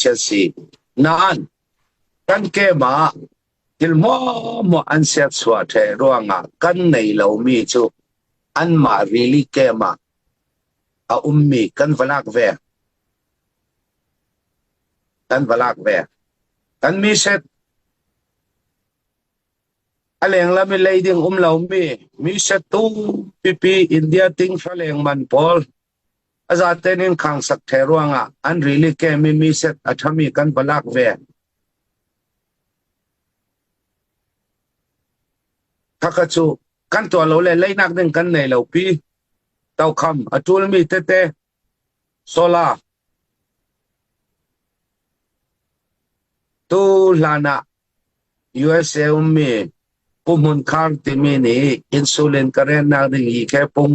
khi a si. Nain, kan kem ah thil mawmawah an serchuah ṭheh ruangah kan nei lomi cu anmah rili kem ah a ummi kan va lak ve. Kan va lak ve. Kan mi set a lenglam i leiding um lomi mi set tu pipi India ting fa leng man pawl A zaten in khangsak ṭhe ruangah an rili kem i mi set a ṭhami kan va lak ve. Khakha cu kan tuah lo le leinak ding kan nei lo pi. Tokham a ṭulmi tete sola tu hlan ah USA ummi Pu Hmun Khar timi nih insulin ka rennak ding hi ke pung